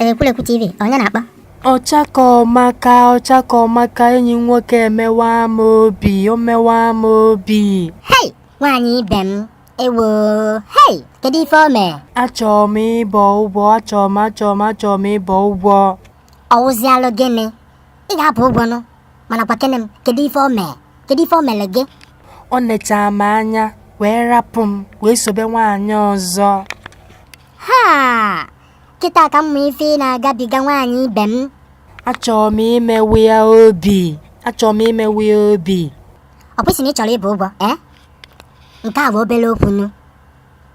Ekwulekwu TV onye na-akpọ ọchakọmaka ọchakọmaka enyi m nwoke emewa m obi o mewa m obi hei nwaanyị ibe m ewo hei kedu ife o mee achọrọ m ịbọ ụgwọ achọrọ m achọrọ m achọrọ m ịbọ ụgwọ ọ wụzialụ gịnị ị ga-abọ ụgwọ nụ mana gwakene m kedu ife o mee kedu ife o mere gị o nechaa m anya wee rapụ m wee sobe nwaanyị ọzọ ha kịta ka m ma ife ị na-agabiga nwaanyị ibe m achọrọ m imewe ya obi achọrọ m imewe ya obi ọ bụ ị sị na ị chọrọ ịbọ ụgwọ ee nke a bụ obele okwu nụ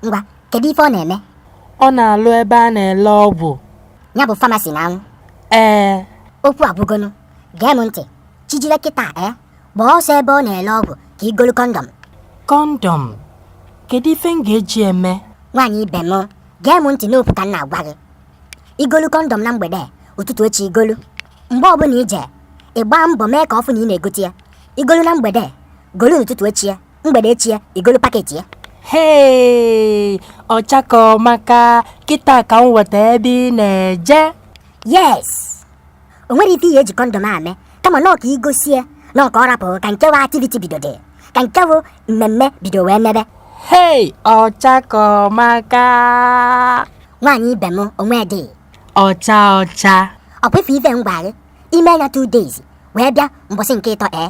Ngwa, kedu ife ọ na-eme? Ọ na-alụ ebe a na-ele ọgwụ. Ya bụ famasi now. Ee. Okwu agwụgo nụ. Gee m ntị. Chijire kịta e. Eh? Gbaa ọsọ ebe ọ na-ele ọgwụ ka i golu kọndọm. Kọndọm? Kedu ife m ga-eji eme? Nwaanyị ibe m, gee m ntị n'okwu ka m na-agwa gị. I golu kọndọm na mgbede, ụtụtụ echi i golu. Mgbe ọbụla i je, ị gbaa mbọ mee ka ọ fụ na ị na-egote ya. I golu na mgbede, golu n'ụtụtụ echi ya. mgbede echi ya i golu paketi ya hei ọchakọmaka kịta ka m wọta ebe ị na-eje yes o nwerọ ife i ji kọndọm eme kama nọọ ka i gosi ya nọọ ka ọ rapụ ka nke bụ activity bido dị ka nke bụ mmemme bido wee mebe hei ọchakọmaka nwaanyị ibe m onwe dị ọcha ọcha ọ kwefe ife ngwa gị i mee ya 2 days wee bịa mbọsị nke ịtọ ee